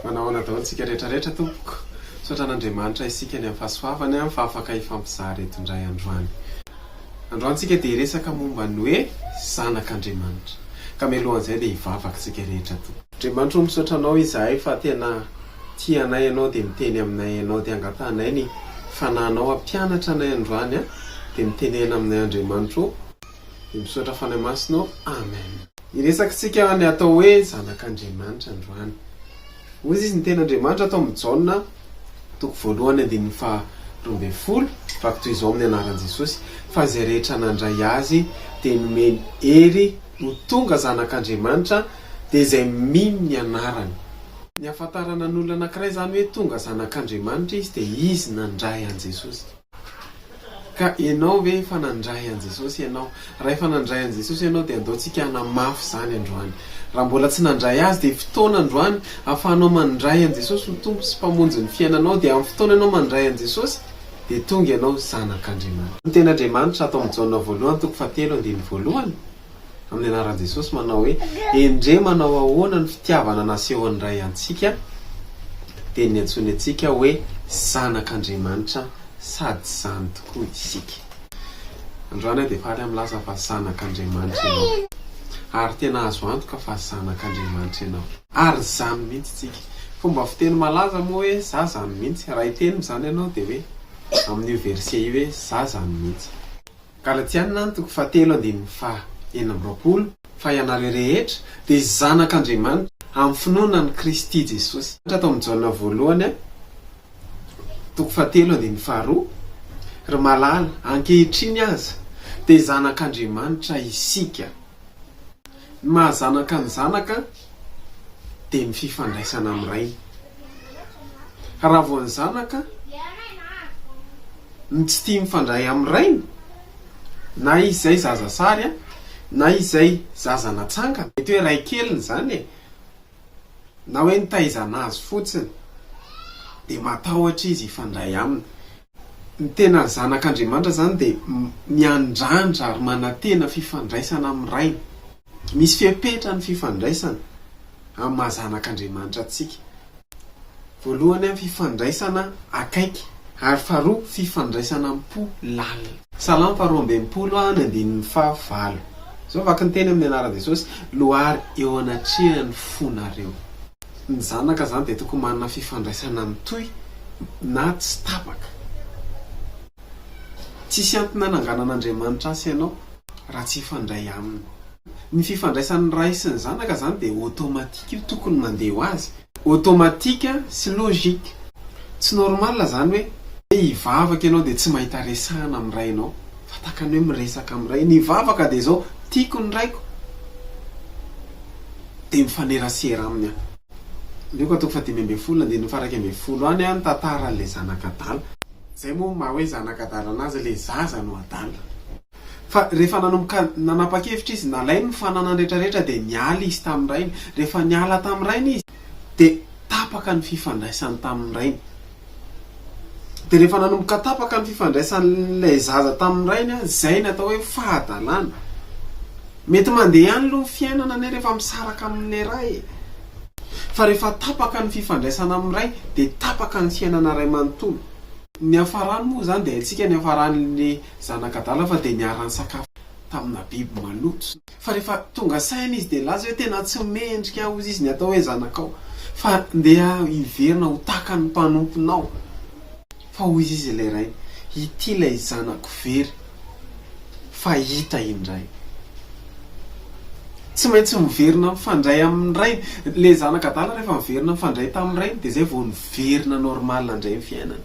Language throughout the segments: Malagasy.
Manao ahoana daholo isika rehetra rehetra tompoko. Misaotra an'Andriamanitra isika any amin'ny fahasoavany fa afaka hifampizara eto indray androany. Androany isika dia hiresaka momba ny hoe zanak'Andriamanitra. Ka mialohan'izay dia hivavaka isika rehetra tompoko. Andriamanitra o misaotra anao izahay fa tena. tia anay ianao dia miteny aminay ianao dia angatahanay ny Fanahinao hampianatra anay androany a dia mitenena aminay Andriamanitra o dia misaotra Fanahy Masina o Amen. Hiresakintsika ny atao hoe zanak'Andriamanitra androany. Hoy izy ny teny Andriamanitra tao amin'ny Jaona toko voalohany andininy faha roa ambin'ny folo, Vaky toy izao amin'ny anaran'i Jesosy fa izay rehetra nandray Azy dia nomeny hery ho tonga zanak'Andriamanitra dia izay mino ny anarany. Ny hahafantarana ny olona anankiray izany hoe tonga zanak'Andriamanitra izy dia izy nandray an'i Jesosy. Ka ianao ve efa nandray an'i Jesosy ianao? Raha efa nandray an'i Jesosy ianao dia andao tsika hanamafy izany androany. Raha mbola tsy nandray Azy dia fotoana androany ahafahanao mandray an'i Jesosy ho Tompo sy Mpamonjy ny fiainanao dia amin'ny fotoana ianao mandray an'i Jesosy dia tonga ianao zanak'Andriamanitra. Ny tenin'Andriamanitra ato amin'ny Jaona voalohany toko fahatelo andininy voalohany Amin'ny anaran'i Jesosy manao hoe endrey manao ahoana ny fitiavana nasehon'ny Ray antsika dia ny antsoiny antsika hoe zanak'Andriamanitra sady izany tokoa isika. Androany aho dia faly amin'ny milaza fa zanak'Andriamanitra ianao ary tena azo antoka fa zanak'Andriamanitra ianao ary izany mihitsy isika. Fomba fiteny malaza moa hoe za zany mihitsy, raha hiteny izany ianao dia hoe amin'io verset io hoe za zany mihitsy. Galatiana ny toko fahatelo andininy faha enina amby roapolo, Fa ianareo rehetra dia zanak' Andriamanitra amin'ny finoana an'i Kristy Jesosy. Tao amin'ny Jaona voalohany, toko fahatelo andininy faharoa, Ry malala, ankehitriny aza dia zanak' Andriamanitra isika. Ny maha zanaka ny zanaka dia ny fifandraisana amin'ny rainy. Raha vao ny zanaka no tsy tia mifandray amin'ny rainy, na izy izay zaza sary, na izy izay zaza natsangana, mety hoe ray keliny izany e, na hoe nitaizana azy fotsiny, dia matahotra izy hifandray aminy. Ny tena zanak'Andriamanitra izany dia miandrandra ary manantena fifandraisana amin'ny Rainy. Misy fepetra ny fifandraisana amin'ny maha zanak'Andriamanitra antsika. Voalohany, amin'ny fifandraisana akaiky, ary faharoa, fifandraisana am-po lalina. Salamo faharoa ambin'ny folo, ny andininy fahavalo. Izao vaky ny teny amin'ny anaran'i Jesosy, Lohary eo anatrehan'ny fonareo. Ny zanaka izany dia tokony manana fifandraisana mitohy na tsy tapaka. Tsisy antony hananganan'Andriamanitra asa ianao raha tsy hifandray Aminy. Ny fifandraisan'ny Ray sy ny Zanaka izany dia automatique io tokony mandeha ho azy. Automatique sy logique. Tsy normal izany hoe hoe hivavaka ianao dia tsy mahita resahana amin'ny Rainao fa tahaka ny hoe miresaka amin'ny Ray. Ny vavaka dia izao, Tiako ny Raiko. dia mifanerasera aminy an. Aleo ka toko fahadimy ambin'ny folo andininy faharaika ambin'ny folo any an ny tantaran ilay zanak adala. Zay moa maha hoe zanak adala anazy ilay zaza no adala. Fa rehefa nanomboka nanapa-kevitra izy nalainy ny fananany rehetra rehetra dia niala izy tamin'ny rainy. Rehefa niala tamin'ny rainy izy dia tapaka ny fifandraisany tamin'ny rainy. Dia rehefa nanomboka tapaka ny fifandraisan'ilay zaza tamin'ny rainy, izay no atao hoe fahadalana. Mety mandeha ihany aloha ny fiainana anie rehefa misaraka amin'ilay ray e! Fa rehefa tapaka ny fifandraisana amin'ny ray dia tapaka ny fiainana iray manontolo. Niafarany moa izany dia haintsika niafaran'ilay zanak'adala fa dia niara-nisakafo tamina biby maloto. Fa rehefa tonga saina izy dia laza hoe tena tsy mendrika hozy izy ny atao hoe zanakao fa ndeha hiverina ho tahaka ny mpanomponao fa hoy izy ilay rainy ity ilay zanako very fa hita indray. Tsy maintsy miverina mifandray amin'ny rainy. Ilay zanaka adala rehefa miverina mifandray tamin'ny rainy dia izay vao niverina normal indray ny fiainany.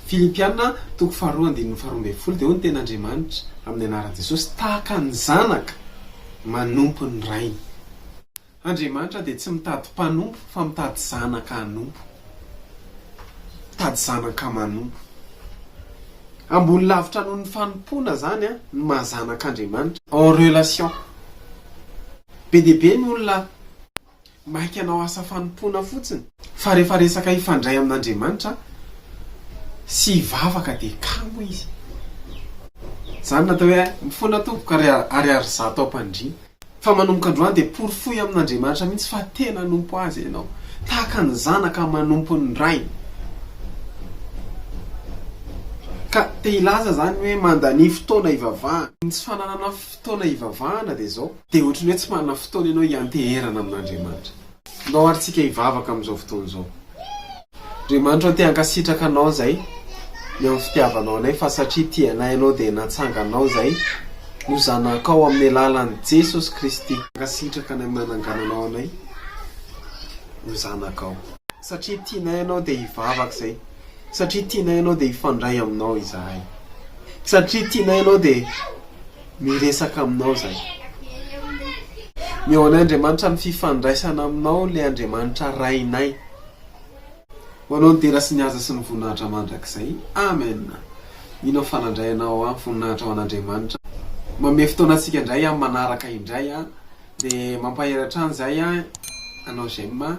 Filipiana, toko faharoa andininy faharoa ambin'ny folo, dia hoy ny teny Andriamanitra, amin'ny anaran'i Jesosy, Tahaka ny zanaka manompo ny rainy. Andriamanitra dia tsy mitady mpanompo fa mitady zanaka hanompo. Mitady zanaka manompo. Ambony lavitra noho ny fanompoana izany ny maha zanak'Andriamanitra. En relation. Be dia be ny olona Maika hanao asa fanompoana fotsiny. Fa rehefa resaka hifandray amin'Andriamanitra sy hivavaka dia kamo izy. Izany no atao hoe mifoana tompoko ary ary ry zato ampandriana. Fa manomboka androany dia porofoy amin'Andriamanitra mihitsy fa tena hanompo Azy ianao. Tahaka ny zanaka manompo ny rainy. Ka te hilaza izany hoe mandania fotoana hivavahana. Ny tsy fananana Fotoana hivavahana dia izao. Dia ohatry ny hoe tsy manana fotoana ianao hianteherana amin'Andriamanitra. Ndao ary tsika hivavaka amin'izao fotoana izao. Andriamanitra o, te hankasitraka Anao izahay ny amin'ny fitiavanao anay, fa satria tia anay Ianao dia natsanganao izahay ho zanakao amin'ny alalan'i Jesosy Kristy. Mankasitraka anay amin'ny nanangananao anay ho zanakao. Satria tianay Ianao dia hivavaka izahay. Satria tianay ianao dia hifandray aminao izahay. Satria tianay ianao dia miresaka aminao izahay. Ny ao an'Andriamanitra amin'ny fifandraisana aminao ilay Andriamanitra Rainay. Ho anao ny dera sy ny haza sy ny voninahitra mandrakizay. Amen. Mino aho fa nandray anao amin'ny voninahitra ho an'Andriamanitra. Manome fotoana antsika indray amin'ny manaraka indray dia mampahery hatrany izahay anao J'aime.